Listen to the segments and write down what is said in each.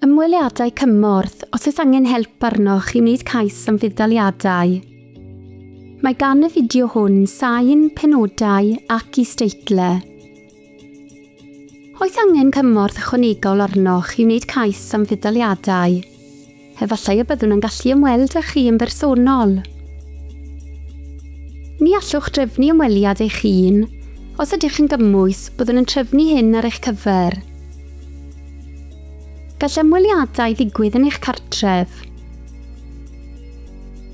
Ymweliadau Cymorth, os oes angen help arnoch i wneud cais am fudd-daliadau. Mae gan y fideo hwn sain, penodau ac is-deitlau. Oes angen cymorth ychwanegol arnoch i wneud cais am fudd-daliadau? Efallai y byddwn yn gallu ymweld â chi yn bersonol. Ni allwch drefnu ymweliad eich hun. Os ydych yn gymwys, byddwn yn trefnu hyn ar eich cyfer. Gall ymweliadau ddigwydd yn eich cartref.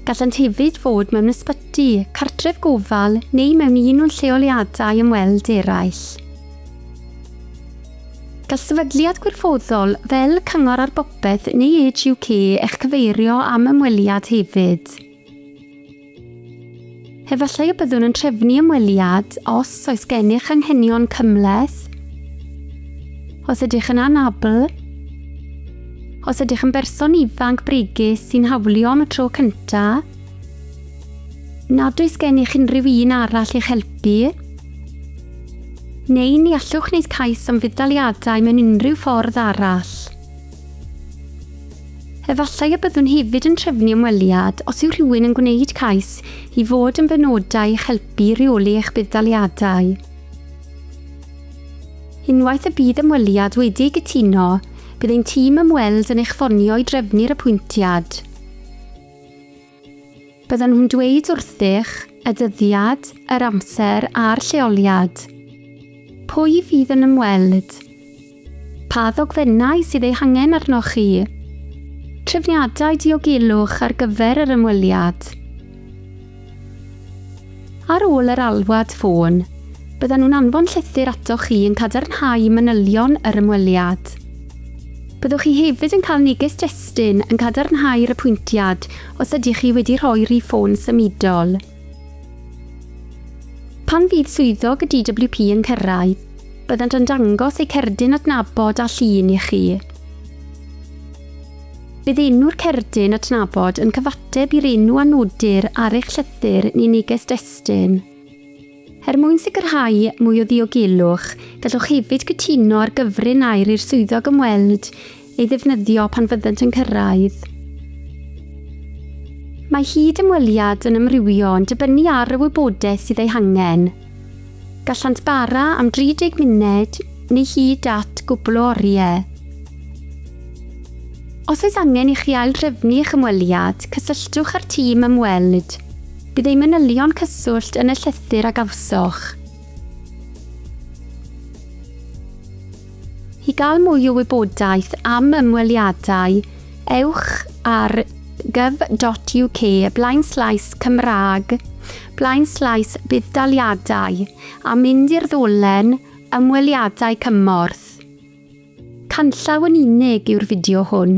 Gallant hefyd fod mewn ysbyty, cartref gofal neu mewn un o'n lleoliadau ymweld eraill. Gall sefydliad gwirfoddol, fel Cyngor ar Bopeth neu Age UK, eich cyfeirio am ymweliad hefyd. Efallai y byddwn yn trefnu ymweliad os oes gennych anghenion cymhleth, os ydych yn anabl, os ydych yn berson ifanc bregus sy'n hawlio am y tro cyntaf, nad oes gennych unrhyw un arall i'ch helpu, Neu ni allwch wneud cais am fudd-daliadau mewn unrhyw ffordd arall. Efallai y byddwn hefyd yn trefnu ymweliad os yw rhywun yn gwneud cais i fod yn benodau i'ch helpu i reoli eich budd-daliadau. Unwaith y bydd ymweliad wedi ei gytuno, bydd ein tîm ymweld yn eich ffonio i drefnu'r apwyntiad. Byddan nhw'n dweud wrthych y dyddiad, yr amser a'r lleoliad. Pwy fydd yn ymweld? Pa ddogfennau sydd eu hangen arnoch chi? Trefniadau diogelwch ar gyfer yr ymweliad. Ar ôl yr alwad ffôn, byddan nhw'n anfon llythyr atoch chi yn cadarnhau manylion yr ymweliad. Byddwch chi hefyd yn cael neges destun yn cadarnhau'r apwyntiad os ydych chi wedi rhoi rhif ffôn symudol. Pan fydd swyddog y DWP yn cyrraedd, byddant yn dangos eu cerdyn adnabod a llun i chi. Bydd enw'r cerdyn adnabod yn cyfateb i'r enw a nodir ar eich llythyr neu neges destun. Er mwyn sicrhau mwy o ddiogelwch, gallwch hefyd gytuno ar gyfrin air i'r swyddog ymweld ei ddefnyddio pan fyddant yn cyrraedd. Mae hyd-ymweliad yn amrywio yn dibynnu ar y wybodaeth sydd ei hangen. Gallant bara am 30 munud neu hyd at gwbl o oriau. Os oes angen i chi aildrefnu eich ymweliad, cysylltwch â'r tîm ymweld. Bydd ein manylion cyswllt yn y llythyr a gawsoch. I gael mwy o wybodaeth am ymweliadau, ewch ar gov.uk blaenslaes Cymraeg Blaenslais budd-daliadau a mynd i'r ddolen ymweliadau cymorth. Canllaw yn unig yw'r fideo hwn.